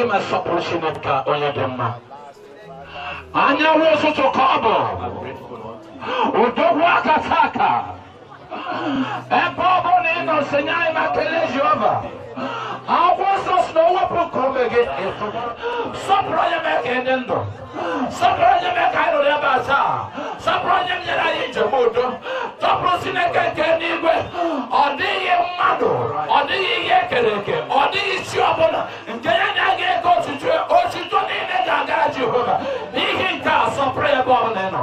ịma sọpụrụ Chineke onye dị mma anyanwụ ụtụtụ ka ọ bụ odogwu akataka ebe ọ bụla ị nọ sonye anyị na kelee Jehova akwụkwọ nsọ si na o wepụ nke ome gị sọpụrụ onye mee ka enye ndụ sọpụrụ onye mee ka anyị ruru ebe a taa sọpụrụ onye nyere anyị njem udo sọpụrụ Chineke nke n'igwe ọ dịghị mmadụ ọ dịghị ihe ekere eke ọ dịghị isi ọbụla nke ya na ya ga-eke otuto otuto niile ga-agara Jehova n'ihi nke a sọpụrụ ebe ọbụla ị nọ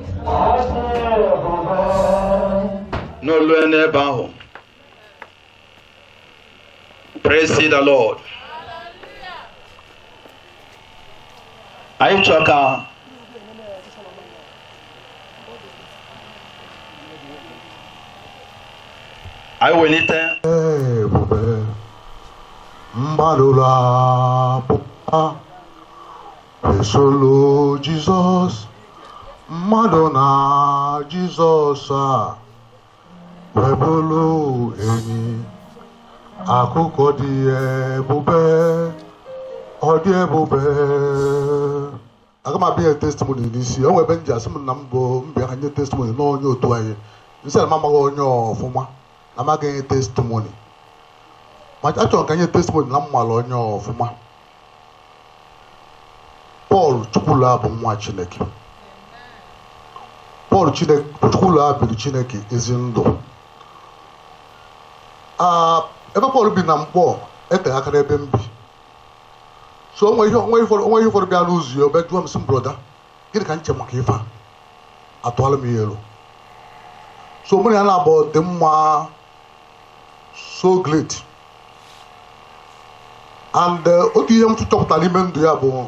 n'olu n'ebe ahụ praise the lord anyị chọọ ka anyị welite ebube mgbalụla Esolo Jizọs mmadụ na Jizọs a webụlụ enyi akụkọ dị ebube ọ dị ebube aga m abịa nye testimoni n'isi o nwebe m ji asị m na m bụ mbịa ka nye testimoni na onye otu anyị m sị na m amaghị onye ọfụma na m agaghị enye testimoni ma achọrọ ka m nye testimoni na m mara onye ọfụma pọl Chukwula bụ nwa chineke pọl Chine- Chukwula biri chineke ezi ndụ Ah, ebe pọl bi na Nkpọ eteghị aka n'ebe m bi so onwe ihe onwe ihe ụfọdụ onwe ihe ụfọdụ bịa n'ụzọ ya ọ bịa jụọ m sị m broda gịnị ka m che maka ife a atụalụ m ya elo so mụ na ya na-abụ dị mma so great and eh, otu ihe m chọpụtara n'ime ndụ ya bụ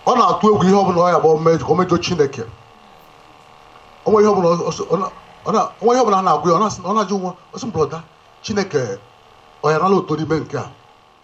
ọ na-atụ egwu ihe ọbụla ọ ya-abụ o mej- o mejọ chineke o nwere ihe ọbụla ọ- ọ- ọ na- ọ na- o nwere ihe ọbụla a na-agwa ya ọ na-asị- ọ na-ajụ mụwa ọ sị m brọda chineke ọ ya-anala otuto n'ime nke a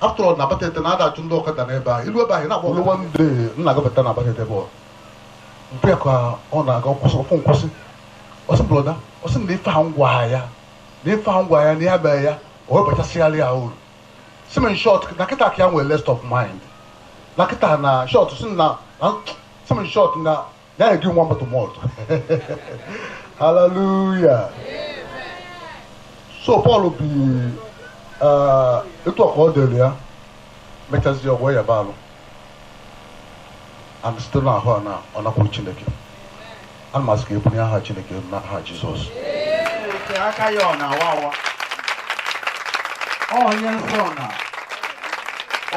after all na batete na a da-achụ ndị ọkada n'ebe ahụ ilu ebe ahụ na-agba ọkada one day m na-agabata na batete bụ mpe ya ka ọ na-aga nkwụsị ọ fụ m kwụsị ọ sị brọda ọ sị na ife a m gwa ya na ife a m gwa ya na ya mee ya o webachasịgharị ya uru si m short na kịta ka ya nwere rest of mind na kịta na short si na na- si m short na Now you give one bottle more. Hallelujah. So Paul bi ah, etu ọ ka dịrị ya mechazie ọgwọ ya baalụ and site n'ahụ a na ọ nakwuru Chineke ana m asị ka ebunye aha Chineke elu n'aha Jizọs O te aka ya ọ na-awa awa Ọ onye nsọ na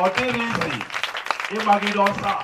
ọ dịrọ easy ịmagide ọsọ a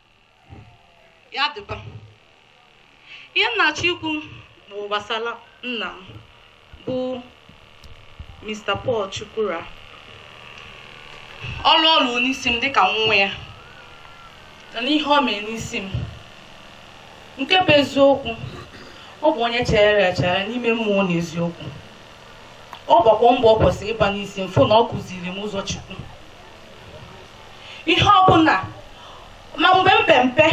ya dịba ihe m na-achọ ikwu bụ gbasara nna m bụ Mr. Paul Chukwura ọlụ ọ lụ n'isi m dịka nwa ya na n'ihe ọ mere n'isi m nke bụ eziokwu ọ bụ onye chegharịrị echegharị n'ime mmụọ na eziokwu ọ gbakwa mbọ ọ kwesịrị ịgba n'isi m fụ na ọ kụziri m ụzọ Chukwu ihe ọbụla ma mgbe m pe mpe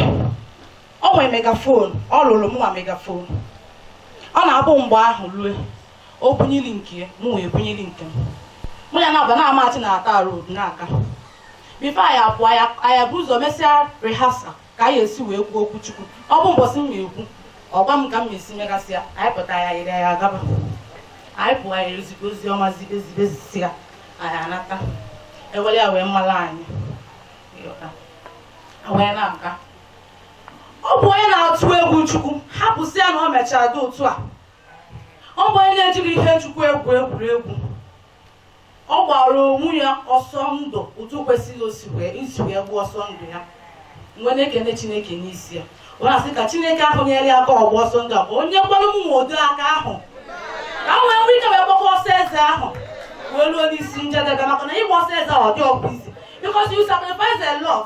ọ nwere megaphone ọ lụrụ mụnwa megaphone ọ na-abụ mgbe ahụ rue o bunyeli nke mụ wee bunyeli nke m mụ ya na-aba na amachi na ata road na-aga before anyị apụọ anyị ebu ụzọ mesịa rehearsal ka anyị esi wee kwuo okwu chukwu ọ bụ mbọsị m na-ekwu ọ gwa m ka m na-esi megasịa anyị bute ya yiri ya gaba anyị pụọ anyị ezibe ozi ọma zibe zibe zisịa anyị anata e were ya wee malụ anyị wee na-aga ọ bụ onye na-atụ egwu chukwu hapụsịa na o mechara dị otu a ọ bụ onye na-ejirọ ihe chukwu egwu egwuregwu ọ gbara onwe ya ọsọ ndụ otu o kwesịrị isi wee gbaa ọsọ ndụ ya m wee na-ekene chineke n'isi ya wee na-asị ka chineke ahụ nyere ya aka ọ gbaa ọsọ ndụ a ka o nyekwanụ mụnwa ụdị aka ahụ ka m wee nwee ike wee gbakwa ọsọ eze ahụ wee ruo n'isi njedebe maka na ịgba ọsọ eze ahụ ọ dịrọkwụ easy because you sacrifice a lot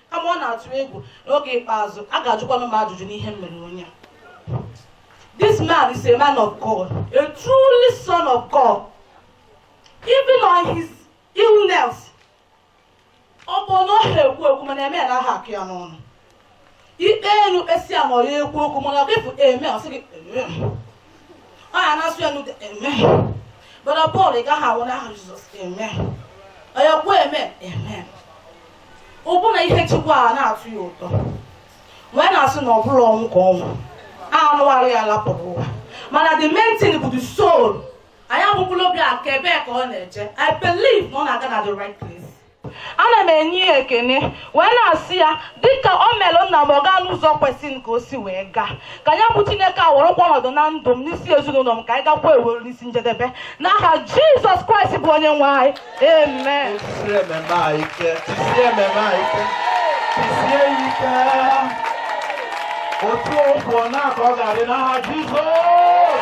kama m na-atụ egwu n'oge ikpeazụ a ga-ajụkwanụ m ajụjụ n'ihe m mere onye this man is a man of God a truly son of God even on his illness ọbụna ọ ha ekwu okwu mana amen anaha akọ ya n'ọnụ i kpelụ kpesịa ma ọ rọ ekwu okwu mana i kwuo amen ọ sị gị ọ ya na-asụ ya n'ude amen brother paul ị gaghị anwụ n'aha jizọs amen ọ ya ekwu amen amen ọ bụ na ihe chukwu a na-atọ ya ụtọ wee na-asị na ọ bụrụ ọnwụ ka ọnwụ anụ arụ ya lapụrụ ụwa mana the main thing bụ the soul anyị abụkwụla obi a nke ebee ka ọ na-eje i believe na ọ na-aga na the right place ana m enye ya ekene wee na-asị ya dịka o mere nna m ọ gaa n'ụzọ kwesịrị ka o si wee gaa ka ya bụ chineke a werekwa ọnọdụ na ndụ m n'isi ezinụlọ m ka anyị gakwa ewere n'isi njedebe n'aha jizọs kraịst bụ onye nwe anyị amen Tisie amen a ike, tisie amen a ike, tisie ya ike. Otu okwu ọ na-aka ọ ga-adị n'aha Jizọs.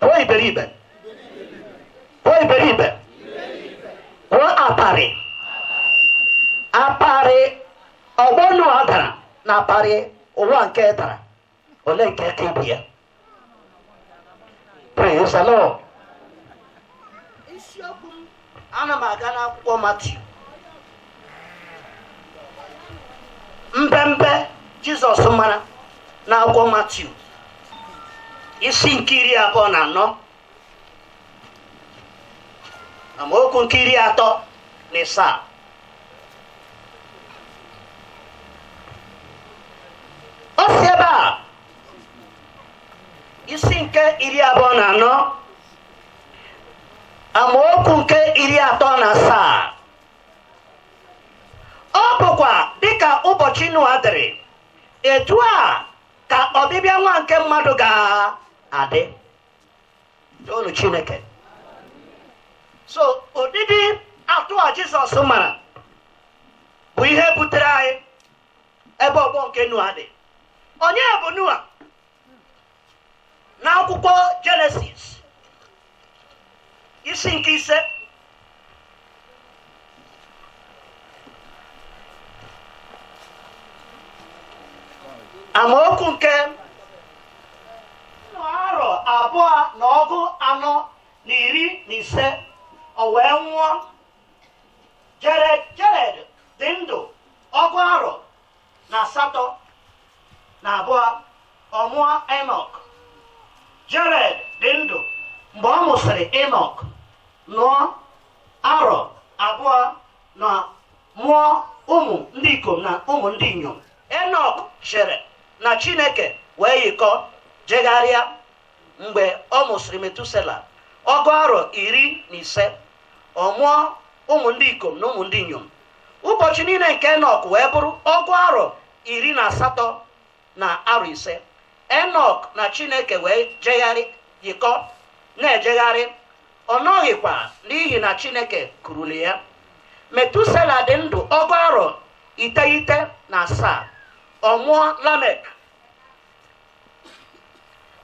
pụọ iberibe pụọ iberibe pụọ aparị aparị ọgbọ noa dara na aparị ụwa nke dara ole nke ka ibe ya praise the lord ana m aga n'akwụkwọ matiu mbembe jizọs mara n'akwụkwọ matiu isi nke iri abụọ na anọ amaokwu nke iri atọ na ịsaa ọ sị ebe a isi nke iri abụọ na anọ amaokwu nke iri atọ na asaa ọ bụkwa dịka ụbọchị Noa dịrị etu a ka ọbịbịa nwa nke mmadụ ga-adị toonụ Chineke so ụdịdị atụ a Jizọs mara bụ ihe butere anyị ebe ọgbọ nke Noa dị onye bụ Noa n'akwụkwọ jenesis isi nke ise amaokwu nke nnụ arọ abụọ na ọgụ anọ na iri na ise o wee nwụọ Jared dị ndụ ọgụ arọ na asatọ na abụọ ọ mụọ enọk jared dị ndụ mgbe ọ mụsịrị enọk nnụ arọ abụọ na mụọ ụmụ ndị ikom na ụmụ ndị inyom enọk chere na chineke wee yikọ jegharịa mgbe ọ mụsịrị metusela ọgụ arọ iri na ise ọ mụọ ụmụ ndị ikom na ụmụ ndị inyom ụbọchị niile nke enọk wee bụrụ ọgụ arọ iri na asatọ na arọ ise enọk na chineke wee jegharị yikọ na-ejegharị ọ nọghịkwa n'ihi na chineke kurule ya metusela dị ndụ ọgụ arọ iteghete na asaa ọ mụọ lamek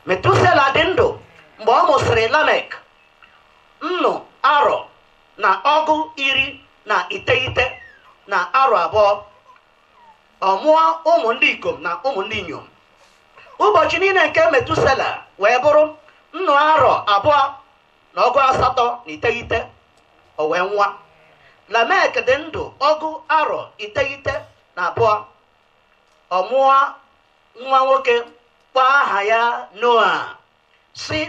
metusela dị ndụ mgbe ọ mụsịrị lamek nnụ arọ na ọgụ iri na iteghete na arọ abụọ ọ mụọ ụmụ ndị ikom na ụmụ ndị inyom ụbọchị niile nke metusela wee bụrụ nnụ arọ abụọ na ọgụ asatọ na iteghete o wee nwụa lamek dị ndụ ọgụ arọ iteghete na abụọ ọ mụọ nwa nwoke kpọọ aha ya noa sị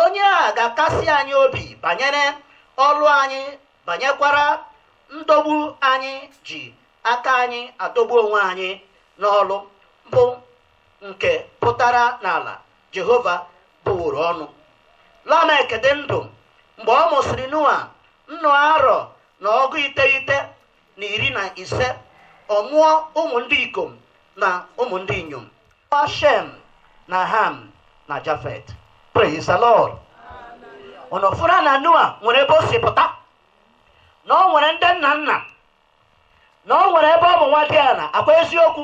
onye a ga-akasi anyị obi banyere ọlụ anyị banyekwara ndọgbu anyị ji aka anyị adọgbu onwe anyị n'ọlụ bụ nke pụtara n'ala jehova bụworo ọnụ lamek dị ndụ mgbe ọ mụsịrị noa nnụ arọ na ọgụ iteghete na iri na ise ọ mụọ ụmụ ndị ikom na ụmụ ndị inyom ọ shem na ham na jafet praise the lord ụnụ fụrụ na noa nwere ebe o si pụta na o nwere ndị nna nna na o nwere ebe ọ bụ nwa diala akwa eziokwu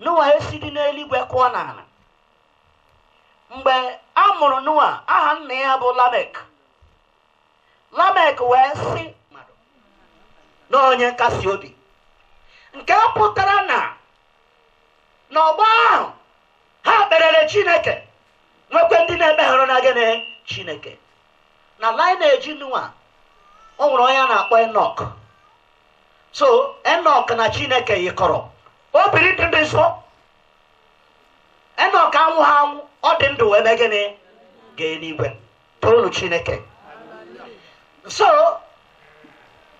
noa esidi n'eluigwe kụọ n'ala mgbe a mụrụ noa aha nna ya bụ lamek lamek wee sị na onye nkasi obi nke pụtara na n'ọgbọ ahụ ha kperere chineke nwekwe ndị na-ekweghị na gịnị chineke na lineage noa o nwere onye a na-akpọ enok so enok na chineke yikọrọ o biri ndụ dị nsọ enok anwụha anwụ ọ dị ndụ wee mee gịnị gaa eluigwe toonụ chineke so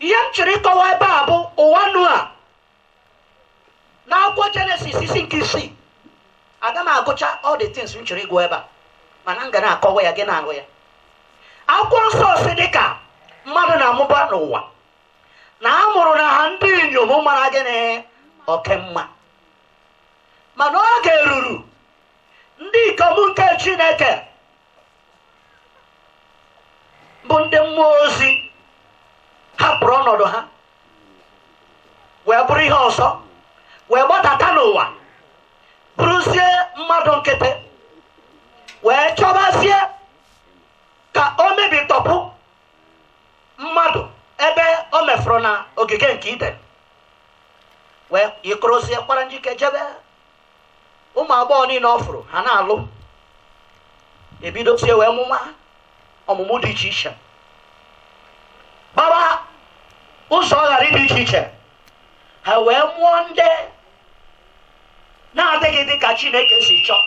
ihe m chọrọ ịkọwa ebe a bụ ụwa noa n'akwụkwọ jenesis isi nke isii aga m agụcha all the things m chọrọ ịgụ ebe a mana m ga na-akọwa ya gị na-ahụ ya akwụkwọ nsọ sị dị ka mmadụ na-amụba n'ụwa na a mụrụ na ha ndị inyom mara gịnị oke mma mana oge ruru ndị ikom nke chineke bụ ndị mmụọ ozi hapụrụ ọnọdụ ha wee bụrụ ihe ọzọ wee gbadata n'ụwa bụrụzie mmadụ nkịtị wee chọbazie ka o mebitọpụ mmadụ ebe o mefuru na ogige nke iden wee yikorozie kwara njike jebe ụmụ agbọghọ niile ọ fụrụ ha na-alụ ebidozie wee mụma ọmụmụ dị iche iche kpaba ụzọ aghara dị iche iche ha wee mụọ ndị na-adịghị dị ka chineke si chọọ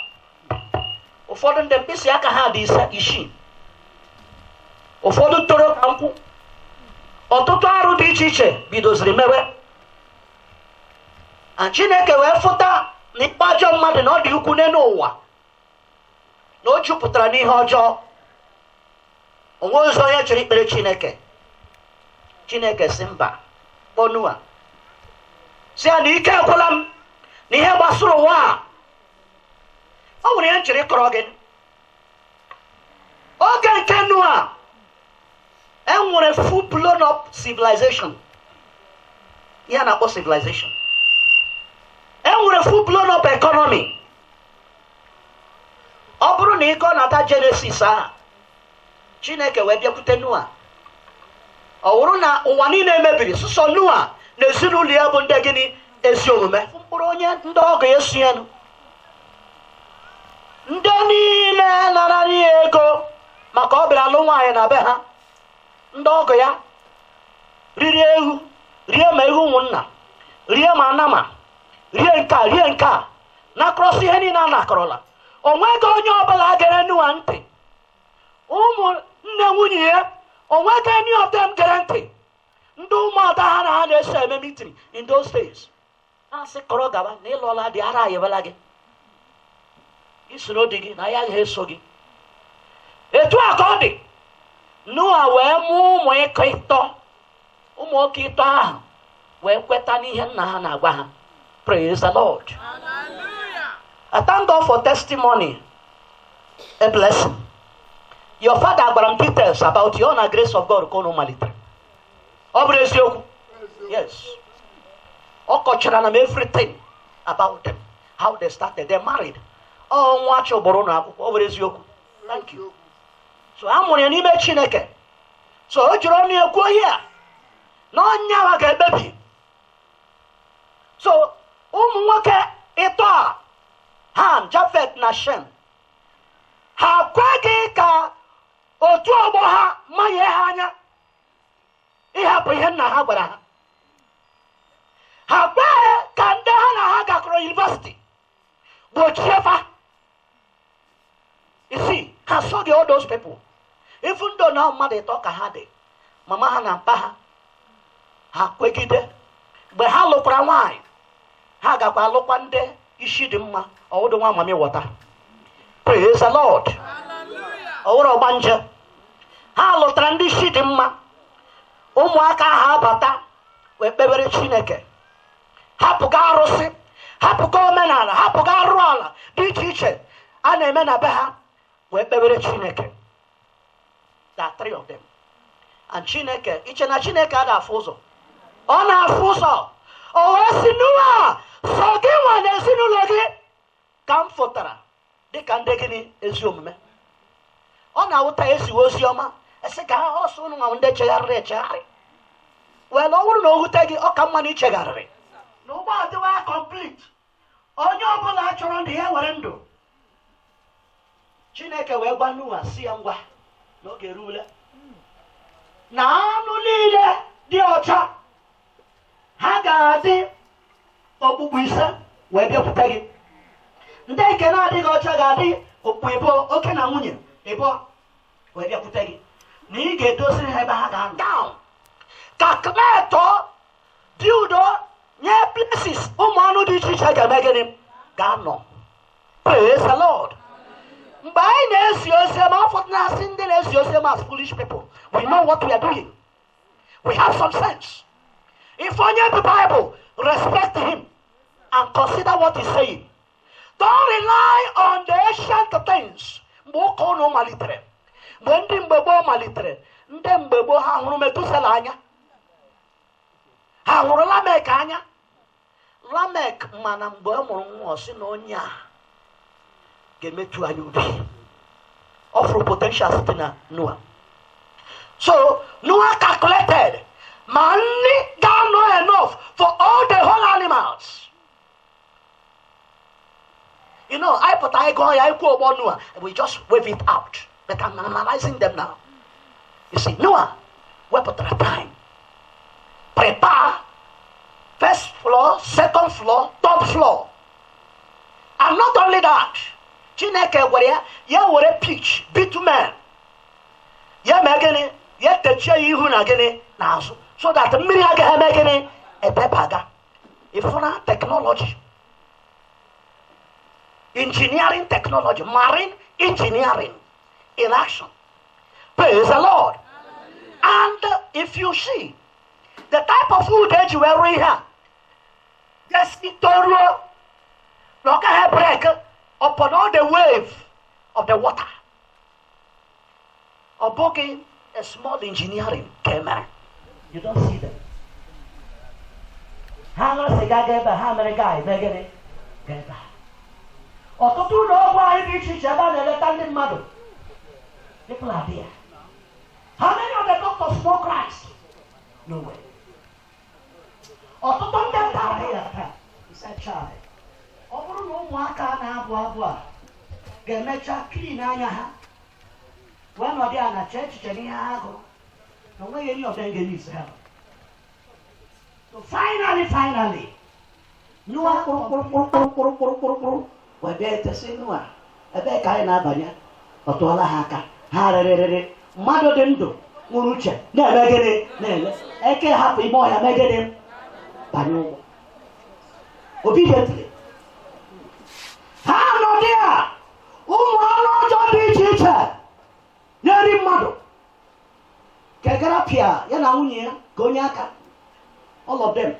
ụfọdụ ndị mkpịsị aka ha dị isii ụfọdụ toro ka nkwụ ọtụtụ arụ dị iche iche bidoziri mewe and chineke wee fụta na ihe ọjọọ mmadụ na ọ dị ukwu n'elu ụwa na o jupụtara n'ihe ọjọọ o nwezi onye chọrọ ikpere chineke chineke sị mba kpọọ noa sị ya na ike agwụla m na ihe gbasara ụwa a o nwere ihe m chọrọ ịkọrọ gị oge nke noa e nwere full blown up civilization ihe a na-akpọ civilization e nwere full blown up economy ọ bụrụ na ịkọ nata jenesis ahụ chineke wee bịakwute noa ọ wụrụ na ụwa niile emebiri sọsọ noa na ezinụlọ ya bụ ndị gịnị ezi omume mkpụrụ onye ndị ọgọ ya esoghị nụ ndị niile nara ya ego maka ọ bịara alụ nwaanyị na be ha ndị ọgọ ya riri ewu rie ma ewu ụmụnna rie ma anama rie nke a rie nke a na-akọrọsị ihe niile a na-akọrọ ha o nweghị onye ọbụla gere noa ntị ụmụ nne nwunye ya o nweghị any of them gere ntị ndị ụmụada ha na ha na-eso eme meeting in those days na-asị kọrọ gaba na ị lụọla di ara ayịbala gị gị soro di gị na ya agaghị eso gị etu a ka ọ dị noa wee mụọ ụmụ ikom ịtọ ụmụ nwoke ịtọ ahụ wee kweta n'ihe nna ha na-agwa ha praise the lord i thank god for testimony a blessing your father gwara m details about you na grace of god ka unu malitere ọ bụrụ eziokwu yes ọ kọchara na m everything about them how they started they married ọ nwa a chụburu n'ụlọ akwụkwọ ọ bụrụ eziokwu thank you so a mụrụ ya n'ime chineke so o jiri ọnụ ya kwuo ihe a na onye ahụ ga-ekpebi so ụmụ nwoke ịtọ a ham jafet na shem ha kweghị ka otu ọgbọ ha manye ha anya ịhapụ ihe nna ha gwara ha ha kweghị ka ndị ha na ha gakọrọ university gbochie fa isi ha esoghị all those people even though na mmadụ ịtọ ka ha dị mama ha na mpa ha ha kwegide mgbe ha lụkwara nwaanyị ha gakwa lụkwa ndị isi dị mma ọ wụdụ nwa mami wọta praise the lord ọ wụrụ ọgbanje ha lụtara ndị isi dị mma ụmụaka ha abata wee kpewere chineke hapụga arụsị hapụga omenala hapụga arụ ala dị iche iche a na-eme na be ha wee kpewere chineke the three of them and chineke i che na chineke anaghị afụ ụzọ ọ na-afụ ụzọ o wee sị noa sọ gị nwa na ezinụlọ gị ka m fụtara dịka ndị gịnị ezi omume ọ na-awụ taa e ziwe ozi ọma a sị ka ọ sọ ụnụ nwa ndị chegharịrị echegharị wee na ọ bụrụ na o wute gị ọ ka mma na i chegharịrị na ụgbọ adịwa ya complete onye ọbụla chọrọ ndụ ya were ndụ chineke wee gwa noa sị ya ngwa na oge eruwela na anụ niile dị ọcha ha ga-adị okpukpu ise wee bịakwute gị ndị nke na-adịghị ọcha ga-adị okpukpu ịbụọ oke na nwunye ịbụọ wee bịakwute gị na ị ga-edoziri ha ebe ha ga-anọ ka kmetọọ dị udo nye places ụmụ anụ dị iche iche ga-eme gịnị ga-anọ praise the lord mgbe anyị na-ezi ozi ọma ụfọdụ na-asị ndị na-ezi ozi ọma as foolish people we know what we are doing we have some sense ị fụ onye bu bible respect him and consider what he's saying don't rely on the ancient things mgbe ụka ụnụ malitere mgbe ndị mgbe gboo malitere ndị mgbe gboo ha hụrụ metusela anya ha hụrụ lamek anya lamek mana mgbe ọ mụrụ nwa ọ sị na onye a ga-emetụ anyị obi ọ fụrụ potential site na noa so noa calculated ma nri ga-anọ enough for all the whole animals you know anyị pụta anyị gụọ ya anyị kwuo ụgbọ nua we just wave it out but I'm analyzing them now you see nua wepụtara time prepare first floor second floor third floor and not only that chineke gwara ya ya were pitch bitumen ya mee gịnị ya techie ya ihu na gịnị n'azụ so that mmiri agaghị eme gịnị ebebaga ị fụna technology engineering technology marine engineering in action praise the lord and if you see the type of wood e ji wee rụọ ihe a gesi toruo na ọ gaghị break upon all the wave of the water ọ bụghị a small engineering ka e mere you don't see them ha ṅụrụ sịga ga ebe a, ha mere guy mee gịnị ga ebe a. ọtụtụ ụlọ ọgwụ anyị dị iche iche ebe a na-eleta ndị mmadụ people are there how many of the doctors know Christ no way ọtụtụ ndị nta adịghị ata especially ọ bụrụ na ụmụaka na-agụ agụ a ga-emecha clean anya ha wee nọdụ ala chee echiche n'ihe ha gụrụ na o nweghị enyi ọbịa ga-eyi isi ha So finally, finally, nyụwa kpụrụkpụrụkpụrụkpụrụkpụrụkpụrụ wee bịate sị noa ebee ka anyị na-abanye ọ tụọla ha aka ha rịrịrịrị mmadụ dị ndụ nwere uche na-eme gịnị na-ele eke hapụ ime ọhịa mee gịnị banye ụgbọ obi detiri ha nọdụ ya ụmụ anụ ọjọọ dị iche iche na-eri mmadụ kegara pịa ya na nwunye ya ka onye aka all of them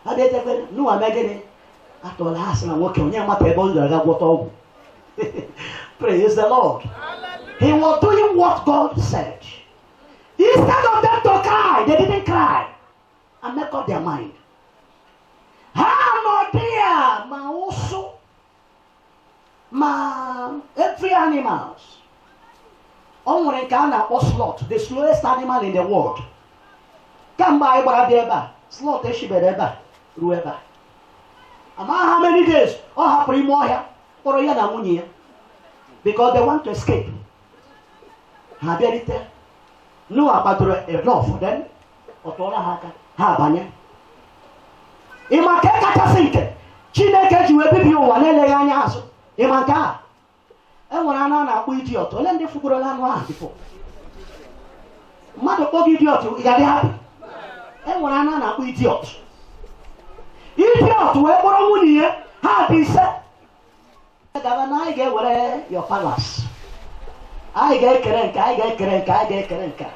abịatere noa mee gịnị atụla ha sị na nwoke onye mata ebe ọ gara aga gwọta ọgwụ praise the lord he was doing what god said instead of them to cry they didn't cry and make up their mind ha nọdụ ya ma ụsụ ma every animals o nwere nke a na-akpọ sloth the slowest animal in the world kamgbe anyị gbara bịa ebe a sloth eshibere ebe a ruo ebe a ama how many days ọ hapụrụ ime ọhịa kpọrọ ya na nwunye ya because they want to escape ha bịarite noa kpadoro the door for them ọ tụọla ha aka ha abanye ị ma nke kachasị nke chineke ji wee bibie ụwa na-eleghị anya azụ ị ma nke a e nwere anụ a na-akpọ idiot ole ndị fụgorola anụ ahụ before mmadụ kpọọ gị idiot ị ga-adị happy e nwere anụ a na-akpọ idiot idiot wee kpọrọ nwunye ya ha dị ise gaba na anyị ga-ewere your palace anyị ga-ekere nke anyị ga-ekere nke anyị ga-ekere nke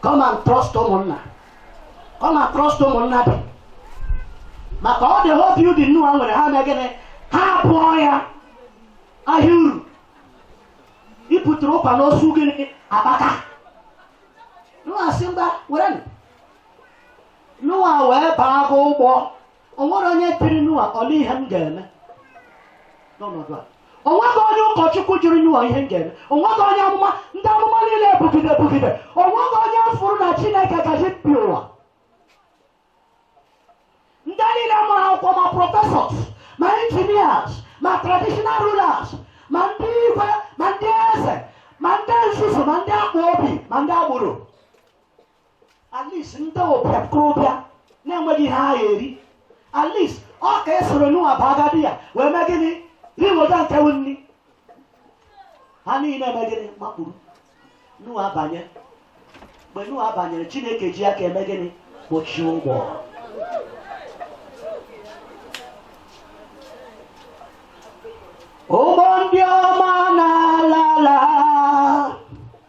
come and trust ụmụnna come and trust ụmụnna dị maka ọ dị hope you dị noa nwere ha mee gịnị ha abụọ ya ahịa uru ịpụtụrụ ụkwa n'osu gịnị akpaka noa asị mba werenụ noa wee baa gị ụgbọ o nwere onye tiri Noa olee ihe m ga-eme n'ọnọdụ a o nweghị onye ụkọchukwu jụrụ Noa ihe m ga-eme o nweghị onye amụma ndị amụma niile ebugide ebugide o nweghị onye fụrụ na chineke ga-ebibi ụwa ndị niile mụrụ akwụkwọ ma professors ma engineers ma traditional rulers ma ndị igwe ma ndị eze ma ndị nzuzu ma ndị akpa obi ma ndị agboro at least ndị okorobịa na-enweghị ihe ha ga-eri at least ọ ka e soro Noa bụ agadi ya wee mee gịnị riweta nke bụ nri ha niile eme gịnị makpuru Noa abanye mgbe Noa banyere chineke ji aka eme gịnị kpochie ụgbọ ụgbọ ndị ọma na-ala ala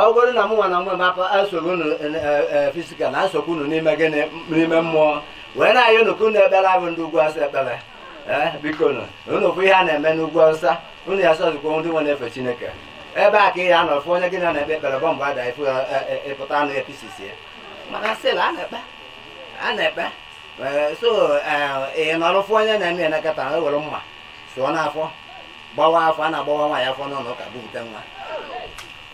ọ bụrụ na mụ nwa na mgbe mapa nsogbu unu physical na nsogbu unu n'ime gịnị n'ime mmụọ wee na-ayọ unu ka unu ekpere abụ ndị ugwu asị ekpere ee biko nụ unu fụ ihe a na-eme n'ugwu awụsa unu ya-asọzikwa ndị nwe na-efe chineke ebe a ka ị ya anọ fụ onye gị na ya na-ekpe ekpere bọmbụ ada ifu ịpụta anụ ya pieces ya mana still a na-ekpe a na-ekpe Ee, so ee, ị nọrọ fụ onye na-eme ya nọkata e were mma sụọ n'afọ gbawa afọ a na-agbawa nwaanyị afọ n'ụlọ ụka bupụta nwa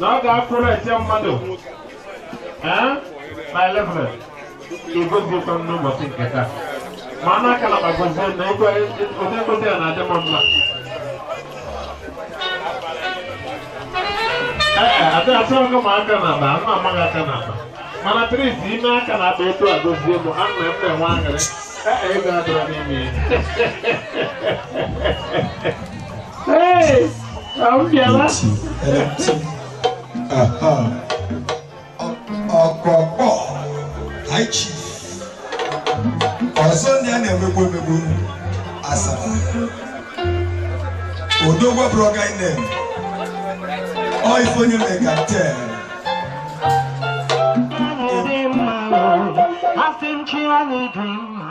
na ọ ga-afụ na-ete mmadụ ee na elefere igozikwa m n'ụbọchị nke taa ma a na-akala ma gozie na ego ụdị ngozi a na-adị m mma ee adị atụ ọgụ ma aka na akpa ana amaghị aka na akpa mana tris ime aka na akpa etu a gozie m ana m eme nwa aṅụrị ee ego adịrọ n'ime ya Hey, abịala. ọkpọkpọ high chief ọzọ ndị a na-emegbu emegbu asaba odogwu abụrọ guy name ọ ife onye mekatalụ Asị m chi anyị dị mma.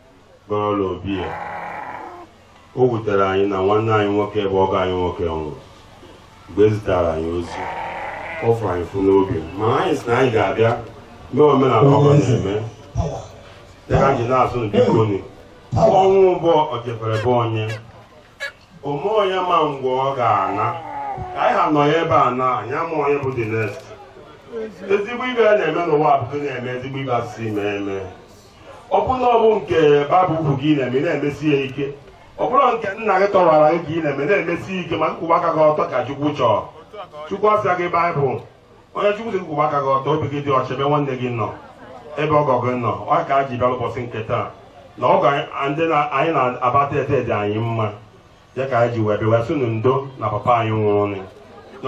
n'ala obi ya o wutere anyị na nwanne anyị nwoke bụ ọgọ anyị nwoke nwụrụ mgbe e zitara anyị ozi ọ fụrụ anyị ụfụ n'obi mana anyị si na anyị ga-abịa mee omenala ọgọ na-eme dịka anyị na-asị unu bikonụ ọnwụ bụ o jefere be onye o nweghị onye ma mgbe ọ ga-ana ka anyị ha nọ ya ebe a na anyị ama onye bụ the next ezigbo ihe a na-eme n'ụwa bụ na-eme ezigbo ihe a sị mee eme ọ bụrụ na ọ bụ nke baịbụl kwuru gị na-eme ị na-emesi ya ike ọ bụrụ nke nna gị tọwara gị ka ị na-eme na-emesi ya ike ma nkwụwa aka gị ọtọ ka chukwu chọọ chukwu asịa gị baịbụl ihe chukwu sị nkwụwa aka gị ọtọ obi gị dị ọcha ebe nwanne gị nọ ebe ọgọ gị nọ ọ ka a ji bịa ụbọchị nke taa na ọgọ anyị- ndị na- anyị na-abata ete dị anyị mma ya ka anyị ji wee bịa sị unu ndo na papa anyị nwụrụnụ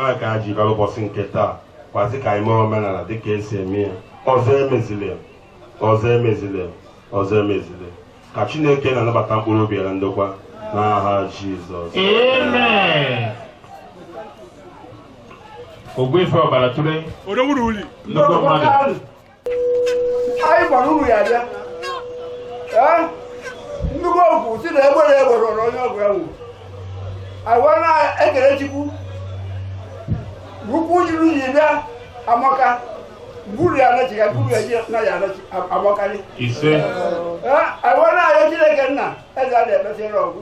ya ka anyị ji bịara ụbọchị nke taa kwazi ka anyị mee omenala dịka e si eme ya ọzọ emezile ọzọ emezile ọzọ emezile ka chineke nna nabata mkpụrụ obi ya na ndokwa n'aha jizọs ogbuefi ọbara tụrụ nnukwu mmadụ anyị gbara unu ya bịa nnukwu ọgọ si na egbere egbere ọrụ onye ọgọ ya nwụrụ agwa na-ekele chukwu ukwu juru ji bịa amaka gburu ya anachi ya gburu ya ji na ya anachi amakarị agwa na-ayọ chineke nna eze a na-ekpesịrị ọgwụ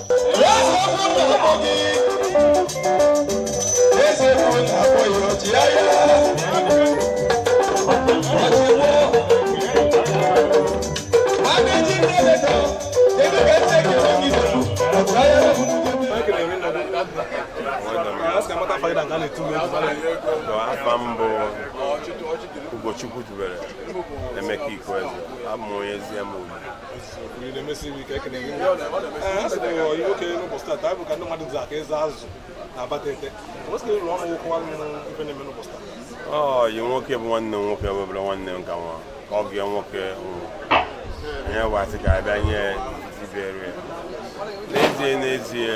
afa m bụ Ugochukwutubere Emeka Ikueze abụ m onye Eziama Ugwu ọyị nwoke bụ nwanne m nwoke webere nwanne m ka nwa ka ọ bịa nwoke nwụrụ ihe wa sị ka a bịa nye ihe ruru ya n'ezie n'ezie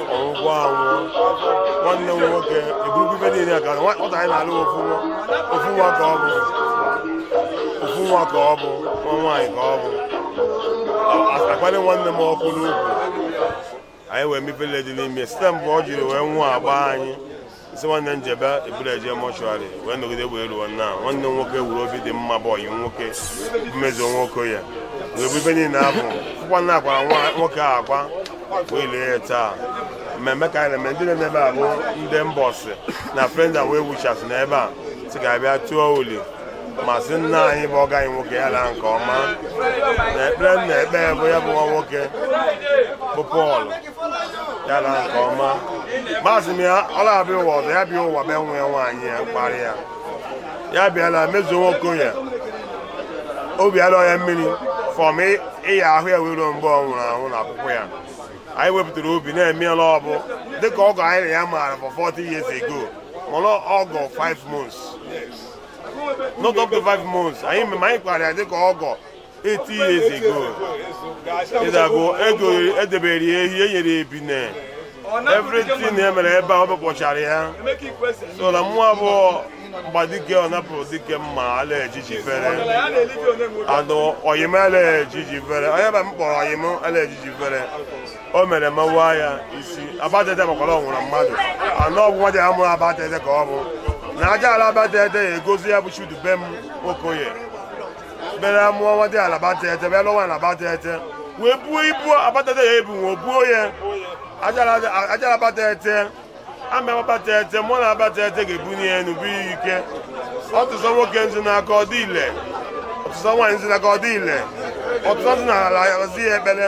ọgọ anwụọ nwanne m nwoke eburukwu ife niile ka nwata anyị na-alụ ofu nwa ofu nwa ka ọ bụ ofu nwa ka ọ bụ nwa nwaanyị ka ọ bụ akpali nwanne m ọkụ n'ugwu anyị wee mepele dị n'ime site mgbe ọ jiri wee nwụọ agba anyị isi nwanne m jebe e buru ya je mortuary wee nọgide wee ruo na nwanne m nwoke wuru obi dị mma bụ ọyị nwoke Mezuo Nwokoye wee bụ ibe niile afụ fụkwa na a kwara nwoke a akwa wee lie ya taa mmemme ka anyị na-eme ndị na-eme ebe a bụ ndị Mbọsị na friend and well wishers na ebe a sị ka a bịa tụọ uli ma sị nna anyị bụ ọgọ anyị nwoke ya laa nke ọma na ekpere m na-ekpe bụ ya bụ nwa nwoke bụ Pọl ya laa nke ọma ma asị m ya ọ na-abịa ụwa ọzọ ya bịa ụwa bịa nwa ya nwaanyị ya kparị ya ya bịala Mezuo Nwokoye obi alọ ya mmiri from year ahụ ya wee ruo mgbe ọ nwụrụ anwụ na ọkwụkwa ya anyị wepụtara obi na-eme ya na ọ bụ dịka ọgọ anyị na ya maara for 40 years ago mana ọgọ 5 months not up to 5 months anyị ma anyị kwara ya dịka ọgọ 80 years ago ịdago ego edebere ya ehi enyere ya ebine everything e mere ebe a ọ bụkpọchara ya so na mmụọ abụọ mgba dike ọ napụrụ dike mma ala ejiji fere anụ oyim ala ejiji fere onye ba m kpọrọ oyim ala ejiji fere o mere mawa ya isi Abatete makwara ọ nwụrụ mmadụ anụ ọgwụ nwa dị ha mụrụ Abatete ka ọ bụ na aja ala Abatete ya egozi ya bụ Chudubem Nwokoye bere a mụọ nwa dị ala Abatete bịa lụwa na Abatete wee buo ibu Abatete ebu wee buo ya aja ala Abatete ama Abatete mmụọ na ala Abatete ga-ebunye ya n'ubu ya ike ọ tụsa nwoke nzu n'aka ọ dị ile ọ tụsa nwaanyị nzu n'aka ọ dị ile ọ tụsa nzu na ala ya ekpere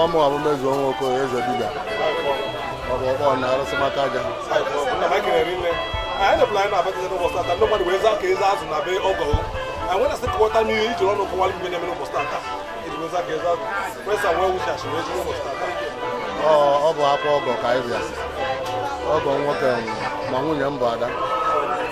ọ mụ bụ Mezuo Nwokoye eze dibịa ọ bụ ọkpọ na arụsị maka aja ọ bụ akwa ọgọ ka anyị bịa ọgọ nwoke ma nwunye m bụ Ada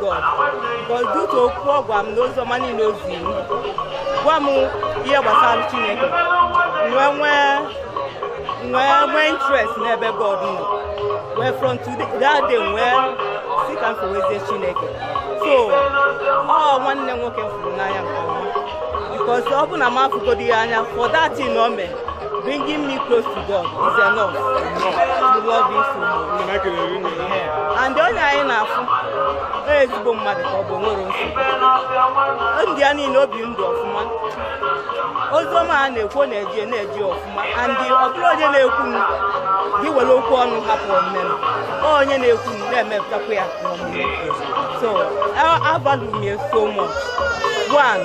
God but due to okwu ọ gwara m na ozi ọma niile o ziri m gwa m ihe gbasara Chineke nwee nwee nwee nwee interest n'ebe God nọ wee from today that day m wee sị ka m fewezie Chineke so ọ nwanne m nwoke m fụrụ n'anya nke ọma because ọ bụ na m afụgodi ya anya for that thing o mee Bringing me close to God is enough. We love him so much. And onye anyị na-afụ ọ ezigbo mmadụ ka ọ bụ nwerọ nsogbu ndị a niile o bi ndụ ọfụma oziọma a na-ekwu ọ na-eji na-eji ọfụma and ọ bụrọ onye na-ekwu m gị were okwu ọnụ hapụ omume m ọ onye na-ekwu ma na-emepụtakwa ya n'omume so a value m ya so much one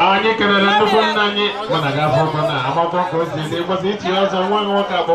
anyị kelere nnukwu nna anyị mana ga-afọ ọkụ na agbakọ ka o si dị mgbasa ichi ọzọ nwa nwoke akpọ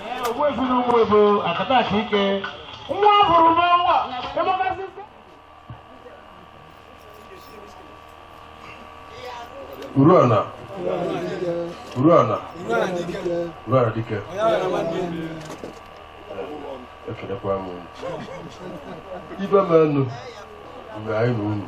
Uruana Uruana Uruana dike ekelekwa m ibe m enu mgbe anyị na unu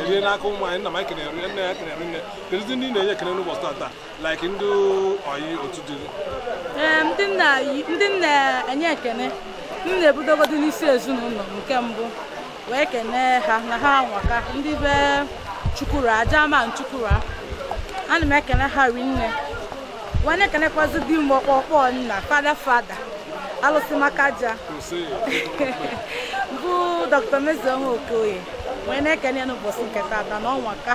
erie n'aka ụmụ anyị nna m ekene rinne ya ekene rinne kedụzi ndị na-enye ekene n'ụbọchị tata like ndị ọyị otu dị ee ndị nna yi- ndị m na-enye ekene m na-ebidogodu n'isi ezinụlọ m nke mbụ wee kenee ha na ha anwaka ndị be chukwura aja ma chukwura ana m ekene ha rinne wee na-ekenekwazi di m ọkpọkpọ nna fada fada alụsị maka aja bụ dr mezioma okoye wee na-ekene ya n'ụbọchị nke tata na ọ nwaka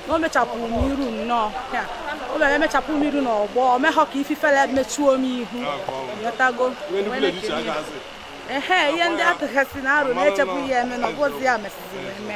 na o mechapụ m iru nnọọ ya o mere emechapụ m iru n'ọgbọ o meghọ ka ife ifere mechuo m ihu nwetago wee na-ekene ya. ehe ihe ndị atụghasị na arụ na-echepụ ya eme na ọ bụzi ya mesịziri eme